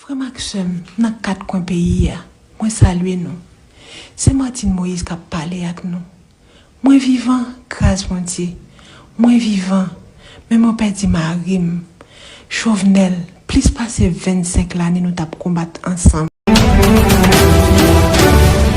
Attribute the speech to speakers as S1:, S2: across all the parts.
S1: Frè m ak sè m nan kat kwen peyi a, mwen salye nou. Se Martine Moïse k ap pale ak nou. Mwen vivan, gras Bondye. Mwen vivan, men mwen pèdi mari m, Chauvenel, plis pase 25 lane nou t ap konbat ansanm.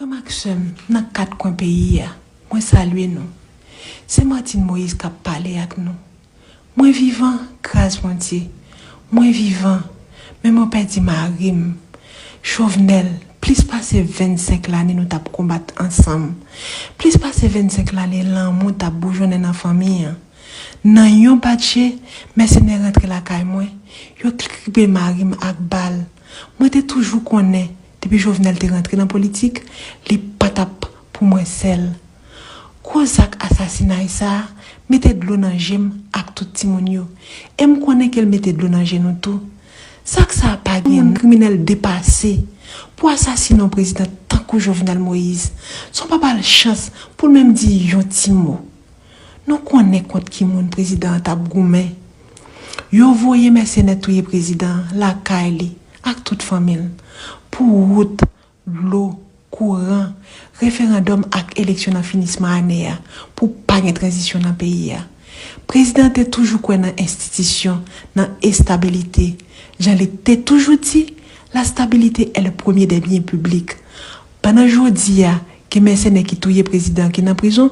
S1: Frè m ak sè m nan kat kwen peyi a, mwen salye nou. Se Martine Moïse k ap pale ak nou. Mwen vivan, gras Bondye. Mwen vivan, men mwen pèdi mari m, Jovenel, plis pase 25 lane nou t ap konbat ansanm, plis pase 25 lane lanmou t ap boujonnen nan fanmi an. Nan yon bat je, mèsenè rantre lakay mwen, yo kribe mari m ak bal. Mwen te toujou konnen. Depi Jovenel te rantre nan politik, li pa t ap pou mwen sèl. Gwo zak asasinay sa a mete dlo nan je m ak tout timoun yo. E m konnen ke l mete dlo nan je nou tou. Zak sa a pa gen non. Kriminèl depase pou asasine yon prezidan tankou Jovenel Moïse san w pa ba l chans pou l menm di yon ti mo. Nou konnen kont ki moun prezidan an t ap goumen. Yo voye mèsenè touye prezidan an lakay li ak tout fanmi l, pou wout, dlo, kouran, referandòm ak eleksyon nan finisman ane a, pou pa gen tranzisyon nan peyi a. Prezidan an te toujou kwè nan enstitisyon, nan estabilite. Jan li te toujou di, La stabilité est le premier des biens publics. Pandan jodi a, Gen mèsenè ki touye prezidan an ki nan prizon,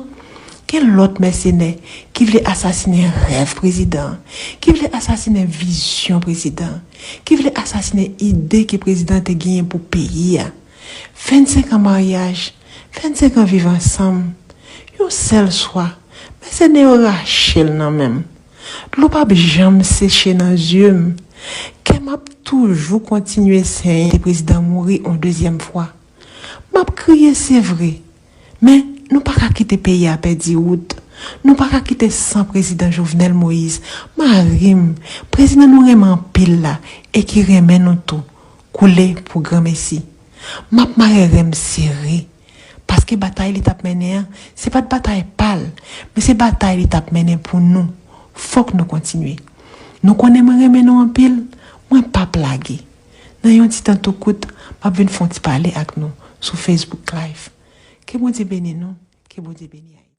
S1: gen lòt mèsenè ki vle asasinen rèv prezidan an, ki vle asasinen vizyon prezidan an, ki vle asasinen ide ke prezidan an te genyen pou peyi a. 25 an maryaj, 25 an viv ansanm, yon sèl swa, mèsenè yo rache l nan men m. Dlo pap janm seche nan zye m, kè m ap toujou kontinye senyen. Prezidan an mouri yon dezyèm fwa. Map kriye se vre, men nou pa ka kite peyi a pèdi wout, nou pa ka kite san prezidan Jovenel Moïse, mari m, prezidan nou renmen anpil la e ki renmen nou tou, koule pou granmesi. Map mare ren m sere, paske batay li tap mennen an, se pat batay pa l, men se batay li tap mennen pou nou, fòk nou kontinye. Nou konnen mwen renmen nou anpil, mwen pap lage. Nan yon ti tan tou kout, m ap vin fè yon ti pale ak nou sou Facebook Live. Ke Bondye beni nou, ke Bondye beni Ayiti.